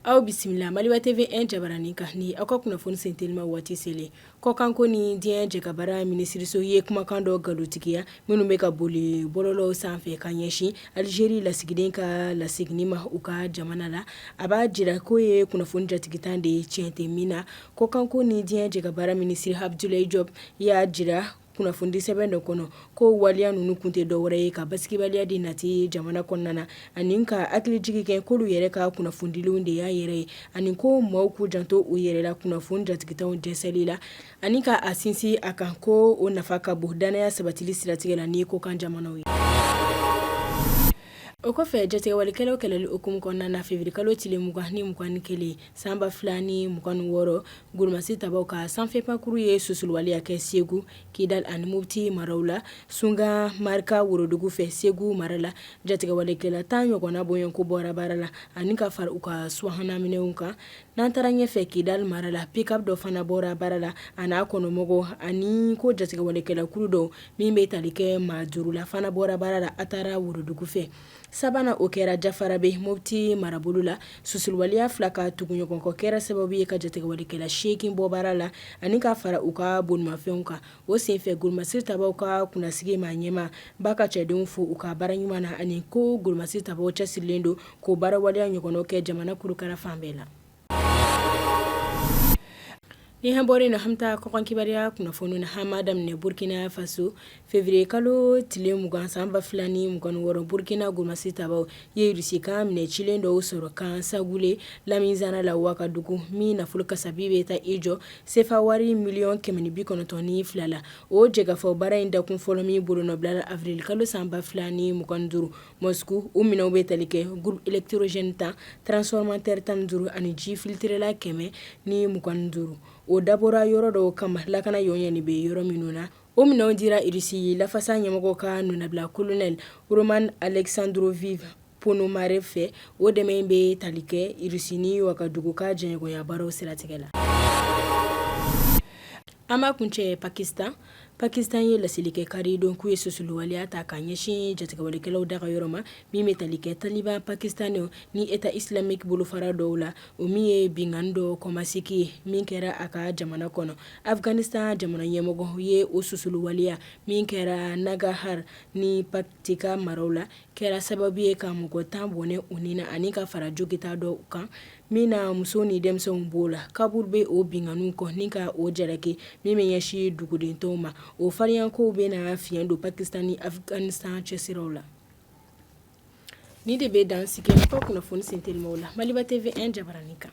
Aw bisimila Maliba TV jabaranin kan ni aw ka kunnafoni sentelima waati selen kɔkan ko ni diɲɛ jɛkabaara minisiriso ye kumakan dɔ nkalontigiya minnu bɛ ka boli bɔlɔlɔw sanfɛ ka ɲɛsin alizeri lasigiden ka lasigini ma u ka jamana la a b'a jira k'o ye kunnafoni jatigitan de ye tiɲɛ tɛ min na Kɔkanko ni diɲɛ jɛka baara minisiri Abudulayi Jɔp y'a jira kunnafonidi sɛbɛn dɔ kɔnɔ k'o waleya ninnu kun tɛ dɔwɛrɛ ye ka basigibaliya de nati jamana kɔnɔna na ani ka hakili jigin kɛ k'olu yɛrɛ ka kunnafonidilenw de y'a yɛrɛ ye ani ko maaw k'u janto u yɛrɛ la kunnafoni jatigitanw jɛnsɛnli la ani ka a sinsin a kan ko o nafa ka bon dannaya sabatili siratigɛ la ni kɔkan jamanaw ye. O kɔfɛ jatigɛwalekɛlaw kɛlɛli hukumu kɔnɔna na feviriye kalo tile mugan ni kelen san ba fila ni mugan wɔɔrɔ golomasiri tabaw ka sanfɛ pankurun ye susuliwaleya kɛ segu kidal ani mopti maraw la sunga marika worodugu fɛ segu mara la jatigɛwalekɛla tan ɲɔgɔnna bɔɲɔnko bɔra baara la ani ka fara u ka subahana minɛnw kan n'an taara ɲɛ fɛ kidal mara la pick-up dɔ fana bɔra baara la a n'a kɔnɔmɔgɔw ani ko jatigɛwalekɛlakulu dɔ min bɛ tali kɛ maa duuru la fana bɔra baara la a taara worodugu fɛ sabanan o kɛra jafarabe mopti marabolo la susuliwaleya fila ka tuguɲɔgɔnkɔ kɛra sababu ye ka jatigɛwalekɛla seegin bɔ baara la ani ka fara u ka bolimafɛnw kan o senfɛ golomasiri tabaw ka kunnasigi maa ɲɛmaa b'a ka cɛdenw fo u ka baara ɲuman na ani ko golomasiri tabaw cɛsirilen don k'o baara waleya ɲɔgɔnna kɛ jamana kurukara fan bɛɛ la Ni an bɔra yen an bɛ taa kɔkan kibaruya kunnafoni na an b'a daminɛ burukina faso feviriye kalo tile mugan san ba fila ni mugan wɔɔrɔ burukina golomasiri tabaw ye irisi ka minɛn cilen dɔw sɔrɔ kan sangule lamizana la wagadugu min nafolo kasabi bɛ taa i jɔ sefa wari miliyɔn kɛmɛ ni bi kɔnɔntɔn ni fila la o jɛkafɔ baara in dakun fɔlɔ min bolonɔbila awirili kalo san ba fila ni mugan duuru mosku o minɛnw bɛ tali kɛ groupe électrogène tan transformateur tan ni duuru ani ji filitirelan kɛmɛ ni mugan duuru o dabɔra yɔrɔ dɔw kama lakana y ɲɛ nin bɛ yɔrɔ minnu na o minɛnw dira irisi lafasa ɲɛmɔgɔ ka nɔnabila kolonɛli Roman Alexandrovich Ponomarev fɛ o dɛmɛ in bɛ tali kɛ irisi ni wagadugu ka jɛɲɔgɔnya baaraw siratigɛ la An b'a kuncɛ pakistan pakistan ye laseli kɛ kari don k'u ye susuliwaleya ta ka ɲɛsin jatigɛwalekɛlaw daga yɔrɔ ma min bɛ tali kɛ taliban pakistanɛw ni état islamique bolofara dɔw la o min ye binkanni dɔ kɔmasegin ye min kɛra a ka jamana kɔnɔ afghanistan jamana ɲɛmɔgɔ ye o susuliwaleya min kɛra nangarhar ni paktika maraw la kɛra sababu ye ka mɔgɔ tan bɔnɛ u ni na ani ka fara jogita dɔw kan min na muso ni denmisɛnw b'o la kabul bɛ o binkanniw kɔn ni ka o jalaki min bɛ ɲɛsin dugudentɔw ma o fariyakow bɛ na fiɲɛ don pakistan ni afighanistan cɛsiraw la nin de bɛ dan sigi ka kunnafoni sentelimaw la maliba tv un jabaranin kan